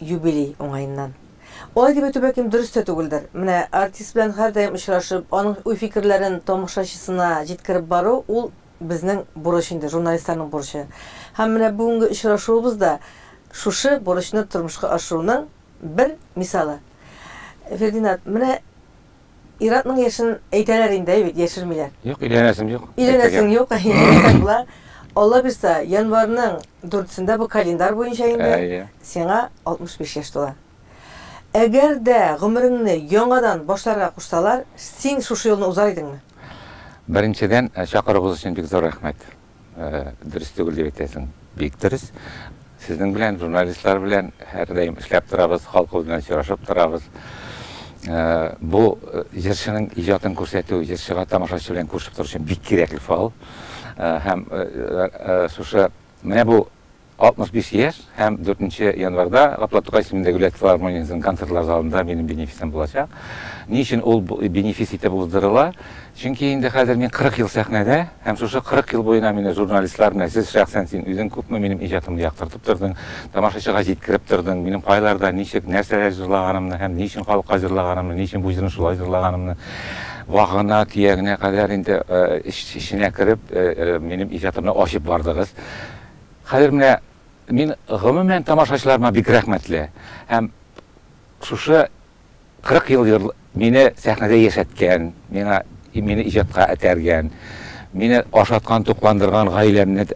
Юбилей уңаеннан. Алай дип әйтү, бәлкем, дөрес тә түгелдер. Менә артист белән һәрдаим очрашып, аның уй-фикерләрен тамашачысына җиткереп бару, ул безнең бурыч инде, журналистларның бурычы. Һәм менә бүгенге очрашуыбыз да шушы бурычны тормышка ашыруның бер мисалы. Фердинат, менә. Ир-атның яшен әйтәләр инде, әй бит, яшермиләр. Юк, өйләнәсем юк. Өйләнәсең юк, әйе. Алла бирса, январьның дүртсендә, бу календарь буенча инде, сиңа 65 яшь тула. Әгәр дә гомереңне яңадан башларга кушсалар, син шушы юлны узар идеңме? Беренчедән, чакыруыгыз өчен бик зур рәхмәт. Дөрес түгел дип әйтәсең. Бик дөрес. Сезнең белән, журналистлар белән һәрдаим эшләп торабыз, халкыбыз белән очрашып торабыз. Бу җырчының иҗатын күрсәтү, җырчыга тамашачы белән күрешеп тору өчен бик кирәкле фал. Һәм шушы менә бу 65 яшь һәм 4 нче январьда Гапла Тукай исемендәге Виләят филармониясенең концертлар залында минем бенефисым булачак. Ни өчен ул бенефис итеп уздырыла? Чөнки инде хәзер мин 40 ел сәхнәдә һәм шушы 40 ел буена мине журналистлар менә сез шәхсән син үзең күпме минем иҗатымны яктыртып тордың, тамашачыга җиткереп тордың, минем кайларда, ничек, нәрсәләр җырлаганымны һәм ни өчен халыкка җырлаганымны, ни өчен бу җырны шулай җырлаганымны вагына, төягенә кадәр инде эченә кереп минем иҗатымны ачып бардыгыз. Хәзер менә мин гомумән тамашачыларыма бик рәхмәтле һәм шушы 40 ел йор мине сәхнәдә яшәткән, миңа мине иҗатка этәргән, мине ашаткан, тукландырган, гаиләмне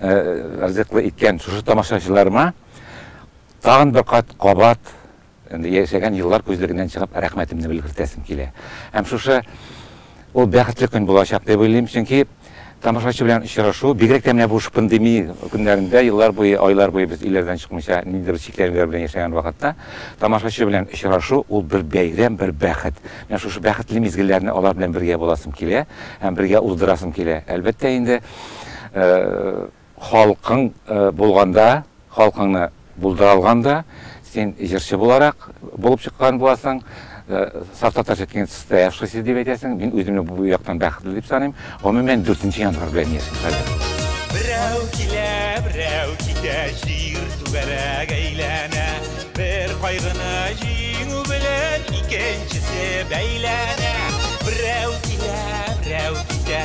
ризыклы иткән шушы тамашачыларыма тагын бер кат кабат Инде яшәгән еллар күзлегеннән чыгып, рәхмәтемне белгертәсем килә. Һәм шушы ул бәхетле көн булачак дип уйлыйм, чөнки тамашачы белән очрашу, бигрәк тә менә бу шпандеми көннәрендә, еллар буе, айлар буе без өйләрдән чыкмыйча, ниндидер чикләнүләр белән яшәгән вакытта, тамашачы белән очрашу, ул бер бәйрәм, бер бәхет. Менә шушы бәхетле мизгелләрне алар белән бергә буласым килә һәм бергә уздырасым килә. Әлбәттә инде, Халкың булганда, халкыңны булдыра алганда, син җырчы буларак булып чыккан буласың. Саф татарча әйткәндә, состоявшийся дип әйтәсең. Мин үземне бу яктан бәхетле дип саныйм. Гомумән, дүртенче январь белән яшим хәзер. Берәү килә, берәү китә, җир түгәрәк әйләнә. Бер кайгыны җиңү белән икенчесе бәйләнә. Берәү килә, берәү китә.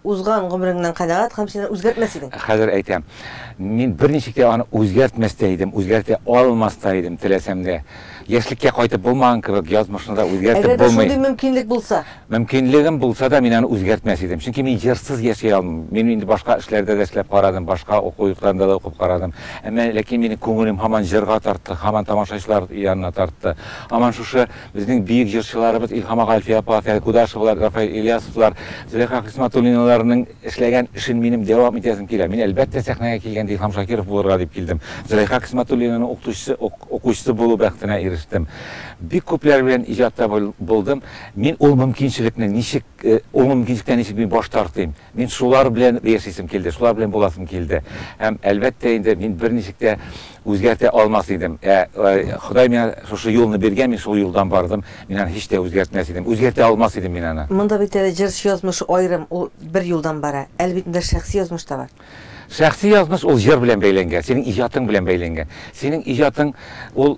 Узган гомереңнән канәгать һәм син аны үзгәртмәс идең. Ә хәзер әйтәм, мин берничек тә аны үзгәртмәс тә идем, үзгәртә алмас та идем, теләсәм дә. Яшьлеккә кайтып булмаган кебек, язмышны да үзгәртеп булмый. Әгәр дә шундый мөмкинлек булса? Мөмкинлегем булса да, мин аны үзгәртмәс идем. Чөнки мин җырсыз яши алмыйм. Мин инде башка эшләрдә дә эшләп карадым, башка уку йортларында да укып карадым. Әмма ләкин минем күңелем һаман җырга тартты, һаман тамашачылар янына тартты. Һаман шушы Безнең бөек җырчыларыбыз Илһам ага Әлфия апа, Фәнил Кудашевлар, Рафаэль Ильясовлар, Зөләйха Хисматуллиналарның эшләгән эшен минем дәвам итәсем килә. Мин, әлбәттә, сәхнәгә килгәндә Илһам Шакиров булырга дип килдем. Зөләйха Хисматуллинаның укытучысы, укучысы булу бәхетенә ирештем. Бик күпләр белән иҗатта булдым. Мин ул мөмкинчелекне ничек, ул мөмкинчелектән ничек мин баш тартыйм? Мин шулар белән яшисем килде, шулар белән буласым килде. Һәм, әлбәттә инде, мин берничек тә үзгәртә алмас идем. Ә Ходай миңа шушы юлны биргән, мин шул юлдан бардым, мин аны һич тә үзгәртмәс идем, үзгәртә алмас идем мин аны. Монда бит әле җырчы язмышы аерым, ул бер юлдан бара. Әле бит монда шәхси язмыш та бар. Шәхси язмыш ул җыр белән бәйләнгән, синең иҗатың белән бәйләнгән. Синең иҗатың ул,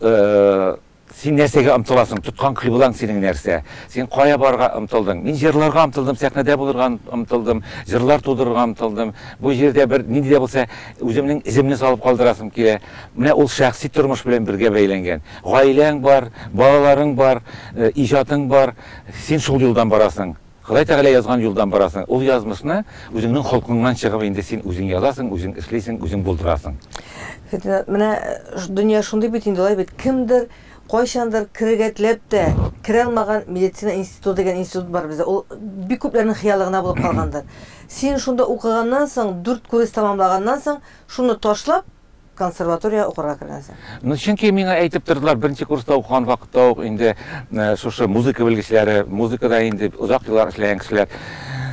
Син нәрсәгә омтыласың? Тоткан кыйблаң синең нәрсә? Син кая барырга омтылдың? Мин җырларга омтылдым, сәхнәдә булырга омтылдым, җырлар тудырырга омтылдым. Бу җирдә бер нинди дә булса үземнең эземне салып калдырасым килә. Менә ул шәхси тормыш белән бергә бәйләнгән. Гаиләң бар, балаларың бар, иҗатың бар. Син шул юлдан барасың. Ходай Тәгалә язган юлдан барасың. Ул язмышны үзеңнең холкыңнан чыгып инде син үзең язасың, үзең эшлисең, үзең булдырасың. Фетнә, менә дөнья шундый бит инде, алай бит. Кемдер кайчандыр керергә теләп тә керә алмаган медицина институты дигән институт бар бездә. Ул бик күпләрнең хыялы гына булып калгандыр. Син шунда укыганнан соң, дүрт курес тәмамлаганнан соң, шуны ташлап, Консерватория укырга кергән син? Ну, чөнки миңа әйтеп тордылар, беренче курста укыган вакытта ук инде шушы музыка белгечләре, музыкада инде озак еллар эшләгән кешеләр,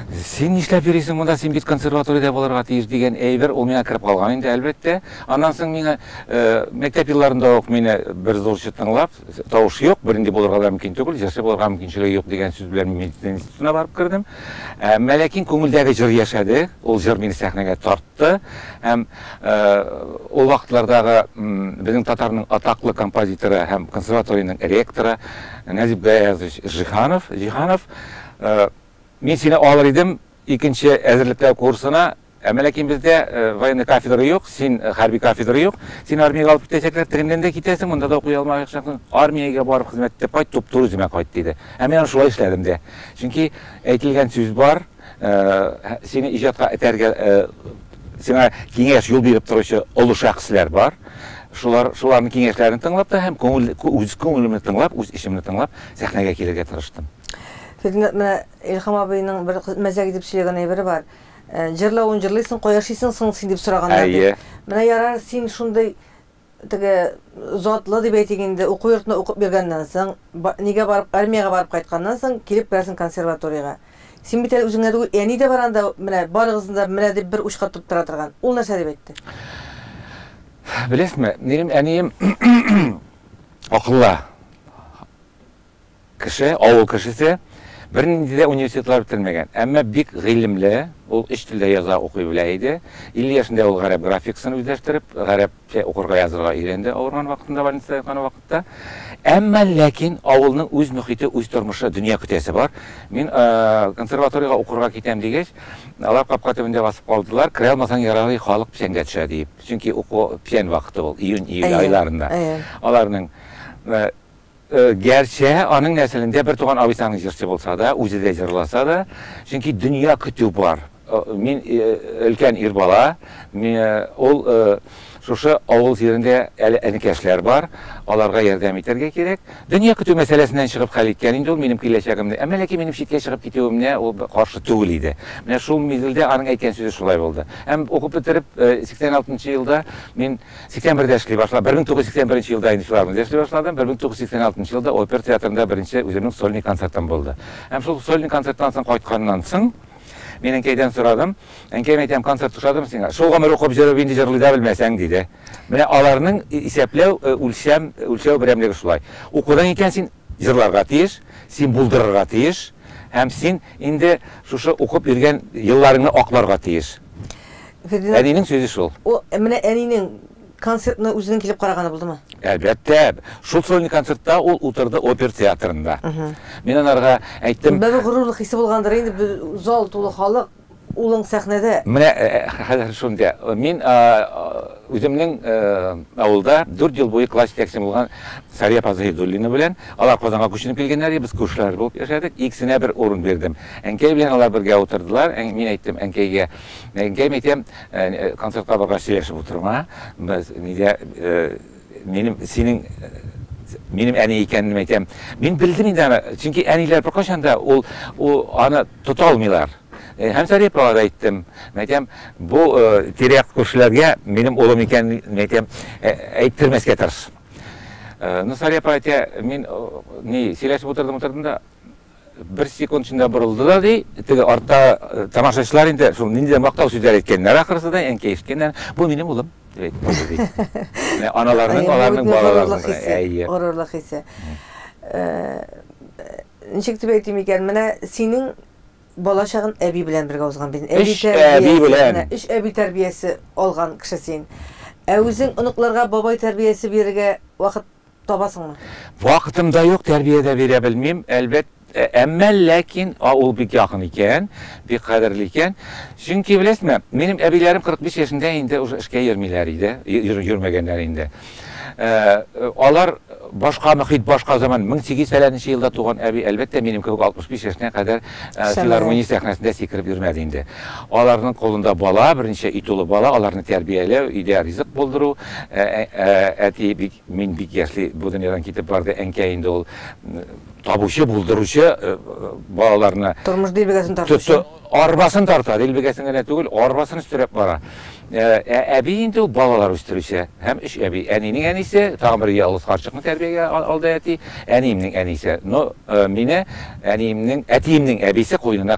Син нишләп йөрисең монда, син бит консерваториядә булырга тиеш дигән әйбер ул миңа кереп калган инде, әлбәттә. Аннан соң миңа мәктәп елларында ук мине бер зурчы тыңлап, Тавыш юк, бернинди булырга да мөмкин түгел, җырчы булырга мөмкинчелеге юк дигән сүз белән мин медицина институтына барып кердем. Әмма ләкин күңелдәге җыр яшәде, ул җыр мине сәхнәгә тартты һәм ул вакытлардагы безнең татарның атаклы композиторы һәм консерваториянең ректоры Нәҗип Гаязович Җиһанов, Җиһанов, мин сине алыр идем, Икенче әзерлекләү курсына, Әмма ләкин бездә военный кафедра юк, син хәрби кафедра юк, син армиягә алып китәчәкләр, телеңнән дә китәсең, монда да укый алмаячаксың, армиягә барып хезмәт итеп кайт, туп-туры үземә кайт, диде. Һәм мин аны шулай эшләдем дә. Чөнки әйтелгән сүз бар, сине иҗатка этәргә, сиңа киңәш, юл биреп торучы олы шәхесләр бар. Шулар, шуларның киңәшләрен тыңлап та һәм күңел, үз күңелемне тыңлап, үз эчемне тыңлап, сәхнәгә килергә тырыштым. Фирдүнә, менә Илһам абыйның бер мәзәк итеп сөйләгән әйбере бар. Җырлавын җырлыйсың, кая шыйсың соң син дип сораганнар дип. Әйе. Менә ярар, син шундый теге затлы дип әйтик инде, уку йортына укып йөргәннән соң, нигә барып армиягә барып кайтканнан соң килеп керәсең консерваториягә. Син бит әле үзеңә түгел, әни дә бар анда, менә барыгызны да менә дип бер учка тоттыра торган. Ул нәрсә дип әйтте? Беләсезме, минем әнием акыллы. Кеше, авыл кешесе, бернинди дә университетлар бетермәгән, әмма бик гыйлемле, ул өч телдә яза, укый белә иде. Илле яшендә ул гарәп графикасын үзләштереп, гарәпчә укырга, язырга өйрәнде, авырган вакытында, больницада яткан вакытта. Әмма ләкин авылның үз мөхите, үз тормышы, дөнья көтәсе бар. Мин консерваториягә укырга китәм дигәч, алар капка төбендә басып калдылар, керә алмасаң яралый, халык печәнгә төшә, диеп. Чөнки уку печән вакыты ул, июнь, июль айларында. Аларның Гәрчә, аның нәселендә бертуган абыйсының җырчы булса да, үзе дә җырласа да, чөнки дөнья көтү бар. Мин өлкән ир бала, ул шушы авыл җирендә әле энекәшләр бар, аларга ярдәм итәргә кирәк. Дөнья көтү мәсьәләсеннән чыгып хәл иткән инде ул минем киләчәгемне. Әмма ләкин минем читкә чыгып китүемнә ул каршы түгел иде. Менә шул мизгелдә аның әйткән сүзе шулай булды. Һәм укып бетереп, 86 нчы елда мин 81дә эшли башлап, 1981 нче елда инде филармониядә эшли башладым. 1986 елда опер театрында беренче үземнең сольный концертым булды. Һәм шул сольный концерттан соң кайтканнан соң, мин әнкәйдән сорадым. Әнкәем әйтәм, концерт ошадымы сиңа? Шул гомер укып җырып инде җырлый да белмәсәң, диде. Менә аларның исәпләү, үлчәм, үлчәү берәмлеге шулай. Укудан икән син. Җырларга тиеш, син булдырырга тиеш һәм син инде шушы укып йөргән елларыңны акларга тиеш. Әнинең сүзе шул. Ул менә әнинең концертына үзенең килеп караганы булдымы? Әлбәттә. Шул сольный концертта ул утырды опер театрында. Мин анарга әйттем. Бер горурлык хисе булгандыр инде, зал тулы халык. улың сәхнәдә. Менә хәзер шунда. Мин үземнең авылда дүрт ел буе класс җитәкчем булган Сария апа Заһидуллина белән, алар Казанга күченеп килгәннәр иде, без күршеләр булып яшәдек, икесенә бер урын бирдем. Әнкәй белән алар бергә утырдылар, мин әйттем әнкәйгә, әнкәем, әйтәм, концертка баргач сөйләшеп утырма, без нидә, Минем синең минем әни икәнен әйтәм. Мин белдем инде аны, чөнки әниләр беркайчан да ул аны тота алмыйлар. Һәм Сәрия апага да әйттем. Әйтәм, бу тирә-як күршеләргә минем улым икәнен әйтәм, әйттермәскә тырыш. Ну, Сәрия апа әйтә, мин ни, сөйләшеп утырдым, утырдым да, Бер секунд эчендә борылды да, ди, теге артта тамашачылар инде шул ниндидер мактау сүзләр әйткәннәр ахрысы да, әнкәй ишеткәннәр. Бу минем улым, дип әйтте, ди. Аналарның, аларның балаларының. Әйе. Горурлык хисе. Ничек дип әйтим икән, менә синең балачагын әби белән бергә узган бит. Эш әби белән. Эш әби тәрбиясе алган кеше син. Ә үзең оныкларга бабай тәрбиясе бирергә вакыт табасыңмы? Вакытым да юк, тәрбия дә бирә белмим, әлбәт, әмма ләкин ул бик якын икән, бик кадерле икән. Чөнки, беләсезме, минем әбиләрем 45 яшендә инде уже эшкә йөрмиләр иде, йөрмәгәннәр инде. Алар башка мөхит, башка заман, 1800 фәләненче елда туган әби, әлбәттә, минем кебек 65 яшенә кадәр филармония сәхнәсендә сикереп йөрмәде инде. Аларның кулында бала, берничә өй тулы бала, аларны тәрбияләү, өйдә ризык булдыру, әти бик Мин бик яшьли бу дөньядан китеп барды, әнкәй инде ул табучы, булдыручы балаларны. Тормыш дилбегәсен тартучы. Арбасын тарта, дилбегәсен генә түгел, арбасын өстерәп бара. Ә әби инде ул балалар үстерүче һәм өч әби. Әнинең әнисе, тагын бер ялгыз карчыкны тәрбиягә алды әти, әниемнең әнисе. Но мине әниемнең, әтиемнең әбисе куенына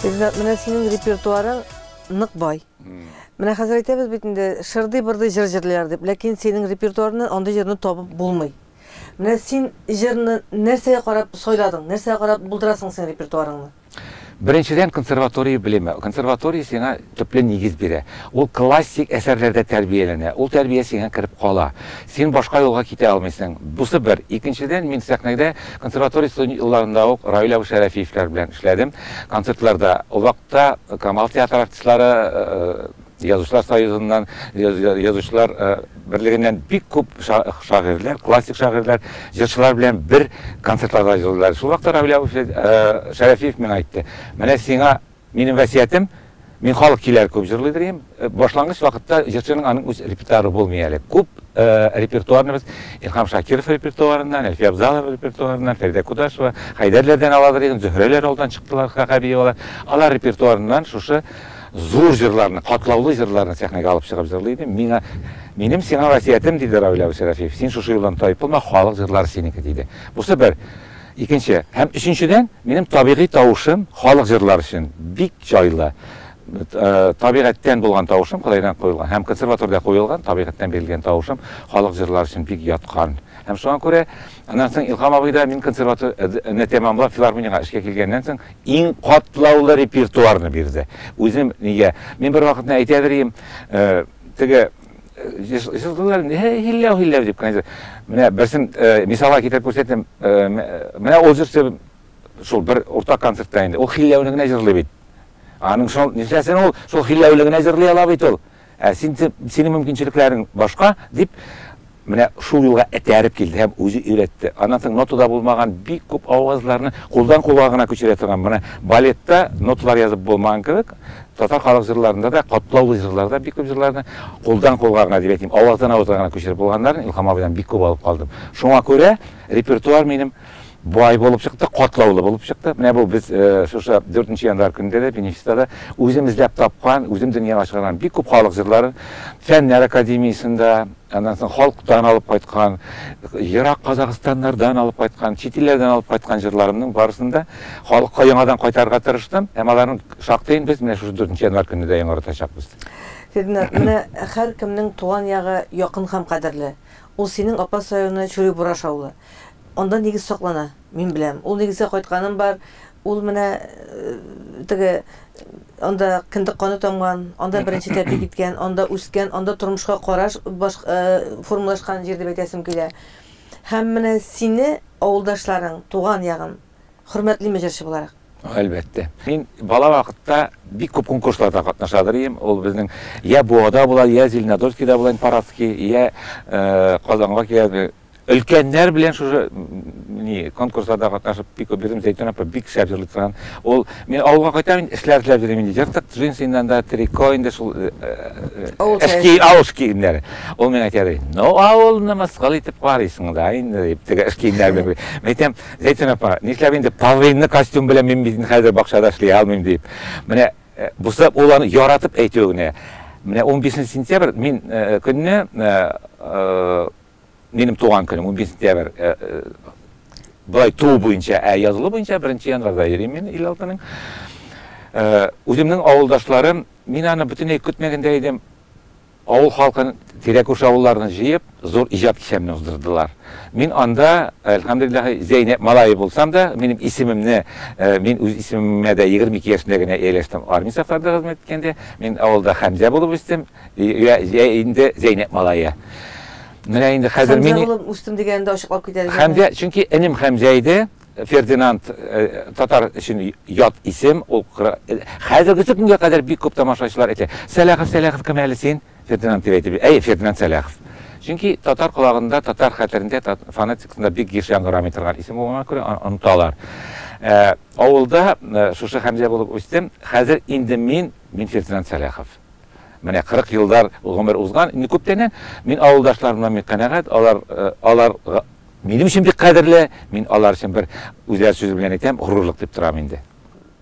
Ринат, менә синең репертуарың нык бай. Менә хәзер әйтәбез бит инде, шырдый-бырдый җыр җырлыйлар дип, ләкин синең репертуарны андый җырны табып булмый. Менә син җырны нәрсәгә карап сайладың, нәрсәгә карап булдырасың син репертуарыңны? Беренчедән, консерватория белеме. Консерватория сиңа Төпле нигез бирә. Ул классик әсәрләрдә тәрбияләнә, ул тәрбия сиңа кереп кала. Син башка юлга китә алмыйсың. Бусы бер. Икенчедән, мин сәхнәдә консерватория студент елларында ук Равил абый Шәрәфиевләр белән эшләдем. Концертларда. Ул вакытта Камал театры артистлары Язучылар союзыннан, Язучылар берлегеннән бик күп шагыйрьләр, классик шагыйрьләр, җырчылар белән бер концертларда җырлыйлар. Шул вакытта Равил абый Шәрәфиев миңа әйтте, Менә сиңа Минем вәсиятем, мин халык киләр күп җырлый дрием. Башлангыч вакытта җырчының аның үз репертуары булмый әле. Күп репертуарныбыз Илһам Шакиров репертуарыннан, Әлфия Абзалова репертуарыннан, Фәридә Кудашева, Хәйдәрләрдән ала дрием, Зөһрәләр алдан чыктылар, Хакабиевалар. Алар репертуарыннан шушы зур җырларны, катлаулы җырларны сәхнәгә алып чыгып җырлый идем. Миңа, минем сиңа вәсиятем, диде Равил абый Шәрәфиев, син шушы юлдан таеп булма, халык җырлары синеке, диде. Бусы бер. Икенче һәм өченчедән, минем табигый тавышым халык җырлары өчен бик җайлы. Табигатьтән булган тавышым, Кодайдан куелган һәм консерваториядә куелган, табигатьтән бирелгән тавышым халык җырлары өчен бик яткан. Һәм шуңа күрә, аннан соң Илһам абый да мин консерваторияне тәмамлап филармониягә эшкә килгәннән соң иң катлаулы репертуарны бирде. Үзем нигә, мин бервакытны әйтәдер идем, теге, җылдылар һилләү һилләү дип кенә менә берсен э, мисалга китереп күрсәтәм э, э, менә ул җырчы шул бер уртак концертта инде ул һилләүне генә җырлый бит аның шул нишләсен ул шул һилләүле генә җырлый ала бит ул ә син синең мөмкинчелекләрең башка дип Менә шул юлга этәреп килде һәм үзе өйрәтте. Аннан соң нотада булмаган бик күп авазларны кулдан кулга гына күчерә торган, менә балетта ноталар язып булмаган кебек, татар халык җырларында да, катлаулы җырларда бик күп җырларны кулдан кулга гына, дип әйтим, аваздан авызга гына күчереп булганнарын Илһам абыйдан бик күп алып калдым. Шуңа күрә репертуар минем Бай булып чыкты, катлаулы булып чыкты. Менә бу без шушы 4 нче январь көнендә дә Бенефистада үзем эзләп тапкан, үзем дөньяга чыгарган бик күп халык җырларын Фәннәр академиясендә, аннан соң халыктан алып кайткан, ерак Казахстаннардан алып кайткан, чит илләрдән алып кайткан җырларымның барысын да халыкка яңадан кайтарырга тырыштым. Һәм аларның шактыен без менә шушы 4 нче январь көнендә дә яңартачакбыз. Феднар, менә һәркемнең туган ягы якын һәм кадерле. Ул синең апас районы Чүрибураш авылы. Анда нигез саклана, мин беләм. Ул нигезгә кайтканым бар. Ул менә теге анда кендек каны тамган, анда беренче тәпи киткән, анда үскән, анда тормышка караш формалашкан җир дип әйтәсем килә. Һәм менә сине авылдашларың, туган ягың хөрмәтлиме җырчы буларак? Әлбәттә. Мин бала вакытта бик күп конкурсларда катнашадыр идем. Ул безнең я Буада була, я Зеленодольскида була, Парадский, я Казанга килә, Өлкәннәр белән шушы ни конкурсларда катнашып бик күп йөрдем, Зәйтүн апа бик шәп җырлый торган. Ул мин авылга кайтам инде, эшләр эзләп йөрим инде. Ертык джинсыннан да трико инде шул э, э, Авыл эски киемнәре. авыл эш киемнәре. Ул миңа әйтә ди, ну авылны мыскыл итеп карыйсың да инде дип теге эш киемнәре белән. бер- Мин әйтәм, Зәйтүн апа, нишләп инде половинный костюм белән мин бит инде хәзер бакчада эшли алмыйм дип. Менә э, бусы ул аны яратып әйтүе генә. Менә 15 сентябрь мин э, көнне э, э, Минем туган көнем 11 сентябрь. Э, э, Былай туу буенча, ә язылу буенча 1 январда йөрим мин ил халкының. Э, үземнең авылдашларым, мин аны бөтенләй көтмәгәндә идем. Авыл халкын тирәкүш авылларны җыеп, зур иҗат кичәмне уздырдылар. Мин анда, әлхәмдулиллаһ, Зәйнәп малае булсам да, минем исемемне, мин үз исемемә дә 22 яшендә генә ияләштем. Армия сафларында хезмәт иткәндә, мин авылда Хәмзә булып үстем. Йә, йә инде Зәйнәп малае. Менә инде хәзер мин... Хәмзә булып үстем дигәнен дә ачыклап китә әле. Хәмзә, чөнки энем Хәмзә иде. Фердинанд татар өчен ят исем. Ул хәзерге көнгә кадәр бик күп тамашачылар әйтә, Сәлахов, Сәлахов кем әле син? Фердинанд дип әйтеп йөри. Әйе, Фердинанд Сәлахов. Чөнки татар колагында, татар хәтерендә, фонетикасында бик еш яңгырамый торган исем булганга күрә, аны оныталар. Авылда шушы Хәмзә булып үстем. Хәзер инде мин, мин Фердинанд Сәлахов. Менә кырык елдар гомер узган, инде күптәннән. Мин авылдашларымнан бик канәгать, алар, алар минем өчен бик кадерле, мин алар өчен бер, үзләре сүзе белән әйтәм, горурлык дип торам инде.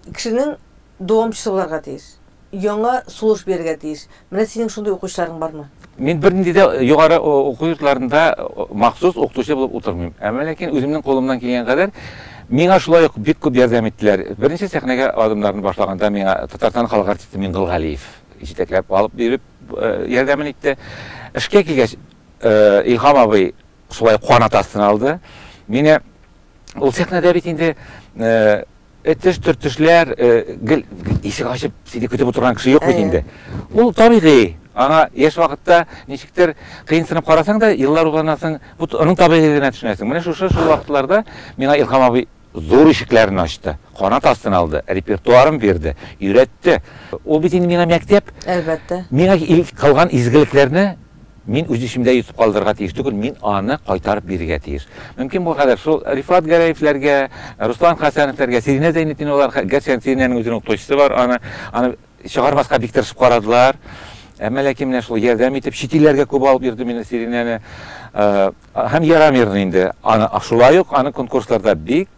Кешенең дәвамчысы буларга тиеш, яңа сулыш бирергә тиеш. Менә синең шундый укучыларың бармы? Мин бернинди дә югары уку йортларында махсус укытучы булып утырмыйм. Әмма ләкин үземнең кулымнан килгән кадәр миңа шулай ук бик күп ярдәм иттеләр. Беренче сәхнәгә адымнарны башлаганда миңа Татарстан халык артисты Мингол Галиев җитәкләп алып йөреп ярдәмен итте. Эшкә килгәч, Илһам абый шулай канат астына алды мине. Ул сәхнәдә бит инде Этеш-төртешләр, гел ишек ачып сине көтеп утырган кеше юк бит инде. Ул табигый, аңа яшь вакытта ничектер кыенсынып карасаң да, еллар узганнан соң бу аның табигыйлегына төшенәсең. Менә шушы шул вакытларда миңа Илһам абый зур ишекләрен ачты, канат астына алды, репертуарын бирде, өйрәтте. Ул бит инде миңа мәктәп. Әлбәттә. Миңа кылган изгелекләрне. Мин үз исемдә йотып калдырырга тиеш түгел, мин аны кайтарып бирергә тиеш. Мөмкин булгадәр шул Рифат Гәрәевләргә, Руслан Хәсәновләргә, Сиринә Зәйнетдиновалар, гәрчә инде Сиринәнең үзенең укытучысы бар, аны, аны чыгармаска бик тырышып карадылар. Әмма ләкин менә шул ярдәм итеп, чит илләргә күп алып йөрдем инде Сиринәне. Һәм ярамирны инде. Аны шулай ук аны конкурсларда бик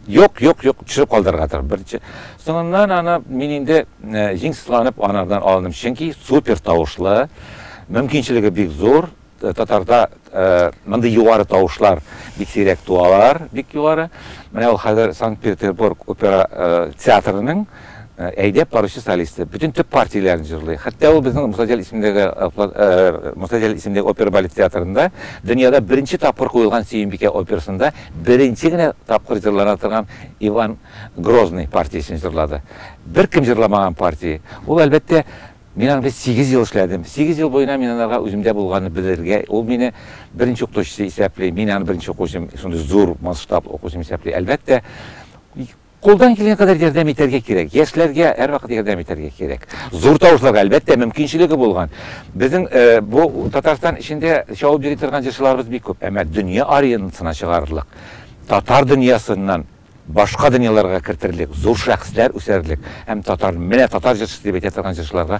Юк, юк, юк, төшереп калдырырга тор, беренче. Соңыннан аны мин инде җиңсызланып анардан алындым, чөнки супер тавышлы, мөмкинчелеге бик зур, татарда мондый югары тавышлар бик сирәк туалар, бик югары. Менә ул хәзер Санкт-Петербург опера театрының Әйдәп баручы солисты, бөтен төп партияләрен җырлый. Хәтта ул безнең Мусаҗәл исемендәге Мусаҗәл исемендәге опер-балет театрында дөньяда беренче тапкыр куелган Сөембикә операсында беренче генә тапкыр җырлана торган Иван Грозный партиясен җырлады. Беркем җырламаган партия. Ул, әлбәттә, мин аны бит сигез ел эшләдем. Сигез ел буена мин анарга үземдә булганны белергә, ул мине беренче укытучысы исәпли, мин аны беренче укучым, шундый зур масштаб укучым исәпли. Әлбәттә, Кулдан килгән кадәр ярдәм итәргә кирәк. Яшьләргә һәрвакыт ярдәм итәргә кирәк. Зур тавышларга, әлбәттә, мөмкинчелеге булган. Безнең бу Татарстан эчендә чабып йөри торган җырчыларыбыз бик күп. Әмма дөнья аренасына чыгарырлык, татар дөньясыннан башка дөньяларга кертерлек, зур шәхесләр үсәрерлек һәм татар, менә татар җырчысы дип әйтә торган җырчыларга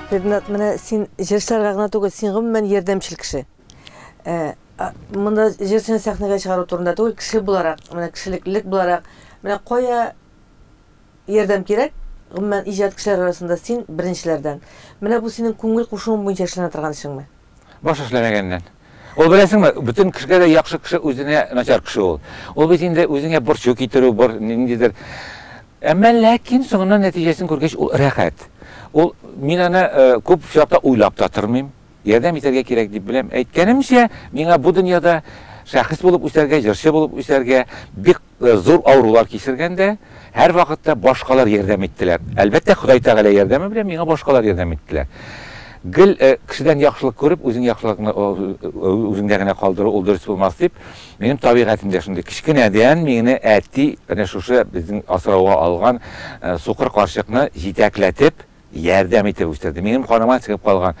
Ренат, менә син җырчыларга гына түгел, син гомумән ярдәмчел кеше. Ә, монда җырчыны сәхнәгә чыгару турында түгел, кеше буларак, менә кешелеклелек буларак, менә кая ярдәм кирәк, гомумән иҗат кешеләр арасында син беренчеләрдән. Менә бу синең күңел кушуың буенча эшләнә торган эшеңме? Баш эшләмәгәннән. Ул беләсеңме, бөтен кешегә дә яхшы кеше үзенә начар кеше ул. Ул бит инде үзеңә борчу китерү, бор, ниндидер. Әмма ләкин соңыннан нәтиҗәсен күргәч, ул рәхәт. Ул, мин аны э, күп очракта уйлап та тормыйм. Ярдәм итәргә кирәк дип беләм. Әйткәнемчә, миңа бу дөньяда шәхес булып үсәргә, җырчы булып үсәргә бик Зур авырулар кичергәндә, һәрвакытта башкалар ярдәм иттеләр. Әлбәттә, Ходай Тәгалә ярдәме белән миңа башкалар ярдәм иттеләр. Гел кешедән яхшылык күреп, үзең яхшылыкны үзеңдә генә калдыру, ул дөрес булмас дип, минем табигатемдә шундый. Кечкенәдән мине әти әнә шушы безнең асрауга алган сукыр карчыкны җитәкләтеп, ярдәм итеп үстерде. Минем каныма сеңеп калган.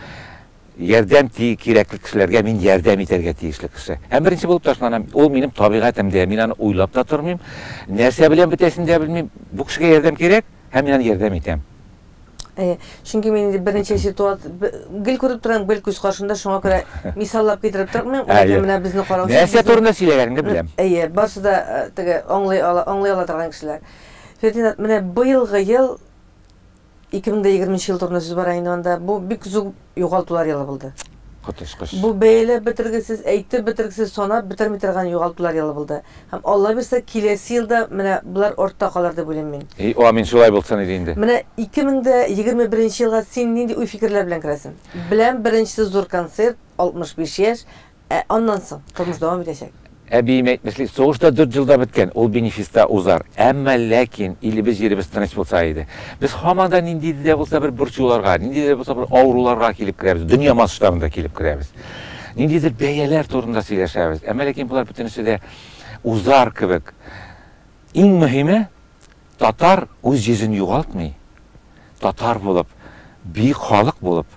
Ярдәм ти, кирәкле кешеләргә мин ярдәм итәргә тиешле кеше. Һәм беренче булып ташланам. Ул минем табигатем дә, мин аны уйлап та тормыйм. Нәрсә белән бетәсен дә белмим. Бу кешегә ярдәм кирәк, һәм мин аны ярдәм итәм. Әйе, чөнки мин инде берничә ситуация, гел күреп торам, гел күз каршында, шуңа күрә мисаллап китереп тормыйм, ләкин менә безне карау өчен. Нәрсә турында сөйләгәнеңне беләм. Әйе, барсы да теге аңлый ала, аңлый ала торган кешеләр. Фердинат, менә быелгы ел Ике мең дә егерме нче ел турында сүз бара инде монда. Бу бик зур югалтулар елы булды. Коточкыч. Бу бәяләп бетергесез, әйтеп бетергесез, санап бетерми торган югалтулар елы булды. Һәм Алла бирсә, киләсе елда менә болар артта калыр дип уйлыйм мин. И, амин, шулай булсын иде инде. Менә ике мең дә егерме беренче елга син нинди уй-фикерләр белән керәсең? Беләм, беренчесе зур концерт, 65 яшь, Ә аннан соң? Тормыш дәвам итәчәк. Әбием әйтмешли, сугыш та дүрт җылда беткән, ул бенефиста узар. Әмма ләкин илебез, җиребез тыныч булса иде. Без һаман да ниндидер дә булса бер борчуларга, ниндидер дә булса бер авыруларга килеп керәбез, дөнья масштабында килеп керәбез. Ниндидер бәяләр турында сөйләшәбез. Әмма ләкин болар бөтенесе дә узар кебек. Иң мөһиме, Татар үз йөзен югалтмый, татар булып, бөек халык булып,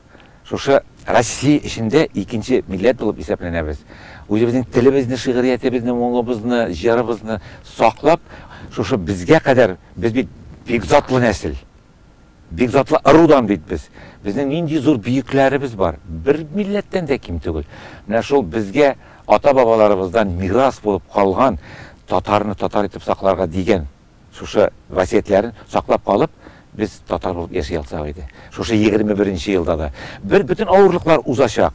шушы Россия эчендә икенче милләт булып исәпләнәбез. Үзебезнең телебезне, шигъриятебезне, моңыбызны, җырыбызны саклап, шушы безгә кадәр, без бит бик затлы нәсел. Бик затлы ырудан бит без. Безнең нинди зур бөекләребез бар. Бер милләттән дә ким түгел. Менә шул безгә ата-бабаларыбыздан мирас булып калган татарны татар итеп сакларга дигән шушы васыятьләрен саклап калып, без татар булып яши алсак иде. Шушы егерме беренче елда да. Бер бөтен авырлыклар узачак.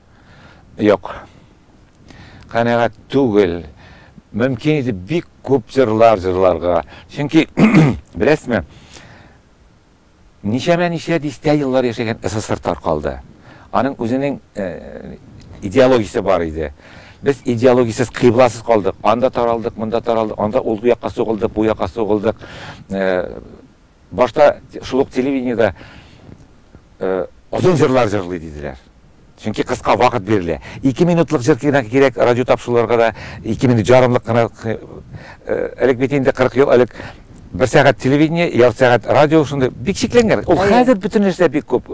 Юк. Канәгать түгел. Мөмкин иде бик күп җырлар җырларга. Чөнки, беләсезме, ничәмә ничә дистә еллар яшәгән СССР таркалды. Аның үзенең э, идеологиясе бар иде. Без идеологиясез, кыйбласыз калдык. Анда таралдык, монда таралдык, анда ул якка сугылдык, бу якка сугылдык. Э, Башта шул ук телевидениедә озын җырлар җырлый диделәр. Чөнки кыска вакыт бирелә. Ике минутлык җыр генә кирәк радиотапшыруларга да, ике минут җарымлык кына. Элек бит инде, 40 ел элек, бер сәгать телевидение, ярты сәгать радио, шундый бик чикләнгән. Ул хәзер бөтен нәрсә бик күп.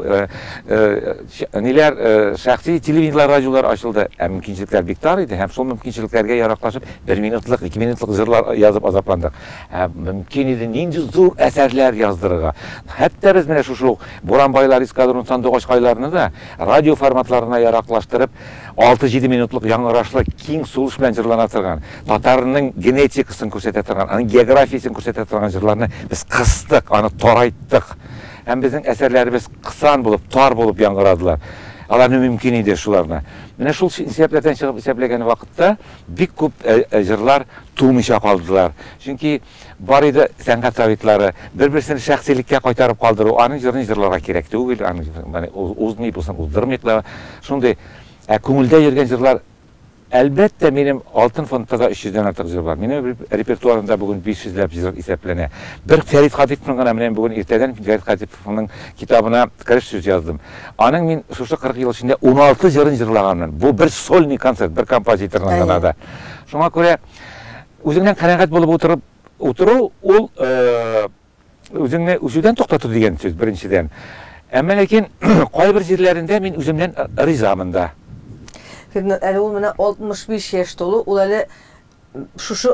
Ниләр, шәхси телевидениеләр, радиолар ачылды, ә мөмкинчелекләр бик тар иде. Һәм шул мөмкинчелекләргә яраклашып, бер минутлык, ике минутлык җырлар язып азапландык. Ә мөмкин иде нинди зур әсәрләр яздырырга! Хәтта без менә шушы ук Буранбайлар эскадрон сандугач кайларны да радиоформатларына яраклаштырып, алты-җиде минутлык яңгырашлы киң сулыш белән җырлана торган, татарның генетикасын күрсәтә торган, аның географиясен күрсәтә торган җырларны без кыстык, аны тарайттык. Һәм безнең әсәрләребез кысан булып, тар булып яңгырадылар. Аларны мөмкин иде шуларны. Менә шул исәпләрдән чыгып исәпләгән вакытта, Бик күп җырлар тумыйча калдылар. Чөнки бар иде сәнгать табиблары. Бер-берсен шәхсилеккә кайтарып калдыру, аның җырын җырларга кирәк түгел, аның узмый, бусын уздырмыйк та. Шундый. Ә күңелдә йөргән җырлар, әлбәттә, минем Алтын фондта да 300 дән артык җыр бар. Минем репертуарымда бүген 500 ләп җыр исәпләнә. Бер Фәрит Хатыйповның гына менә бүген иртәдән Фәрит Аның китабына 40 сүз яздым. Аның мин шушы 40 ел эчендә 16 җырын җырлаганмын. Бу бер сольный концерт, бер композиторның гына да. Шуңа күрә үзеңнән канәгать булып утырып утыру ул үзеңне үсүдән туктату дигән сүз беренчедән. Әмма ләкин кайбер җирләрендә мин үземнән ризамын да. Әле ул менә 65 яшь тулу, ул әле шушы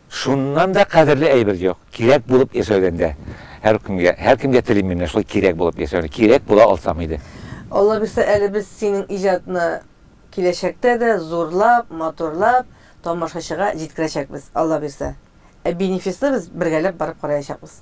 Шуннан да кадерле әйбер юк, кирәк булып яшәүдән дә. Һәркемгә, һәркемгә телим мин менә шулай кирәк булып яшәүне, кирәк була алсам иде. Аллабирса әле без синең иҗатны киләчәктә дә зурлап, матурлап тамашачыга җиткерәчәкбез, Аллабирса. Ә Бинефисны без бергәләп барып караячакбыз.